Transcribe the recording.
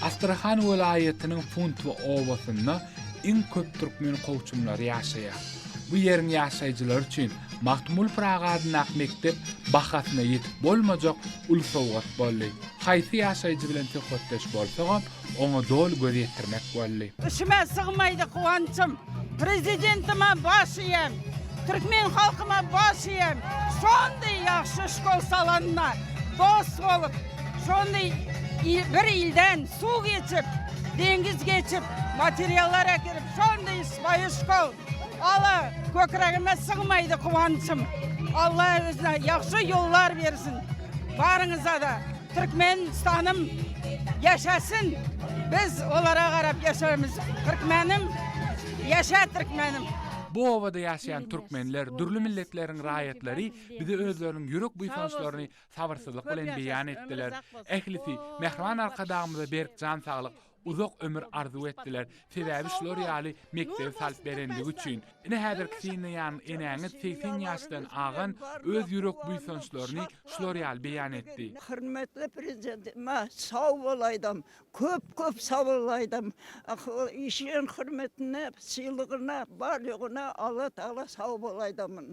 Astrahan welaýatynyň Puntwa obasynda iň köp türkmen kowçumlary ýaşaýar. Bu ýeriň ýaşaýjylary üçin Magtymguly Pyragy adyndaky mekdep bahasyna ýetip bolmajak uly sowgat boldy. Haýsy ýaşaýjy bilen söhbetdeş bolsagam, oňa doly göz ýetirmek boldy. Içime sygmaýdy guwançym, Prezidentime baş iýem, Türkmen halkyma baş iýem. Şondy ýagşy şkol salanda, dost bolup, Şondy bir ilden suw geçip, deňiz geçip, Materiallar äkidip, Şondy sypaýy şkol. Ala kökiregime sygmaýdy kuwançym. Alla özüne ýagşy ýollar bersin. Baryňyzada Türkmenistanym ýaşasyn. Biz olara garap ýaşarmyz. Türkmenim ýaşa Türkmenim. Bu obada ýaşaýan türkmenler, dürli milletleriň raýatlary bize özleriniň ýürek buýsançlaryny sabyrsyzlyk bilen beýan etdiler. Ählisi Mähriban Arkadagymyza berk jan saglyk, Uzak ömür arzuw etdiler, sebäbi şular ýaly mekdebi salyp berendigi üçin. Ine häzirki synda ýaňy enäňiz segsen ýaşdan agan öz ýürek buýsançlaryny şular ýaly beýan etdi. Hormatly Prezidentime sag bol aýdam, köp köp sag bol aýdam. Işiň hormatyna, sylygyna, bar ýoguna Allatagala sag bol aýdamyn.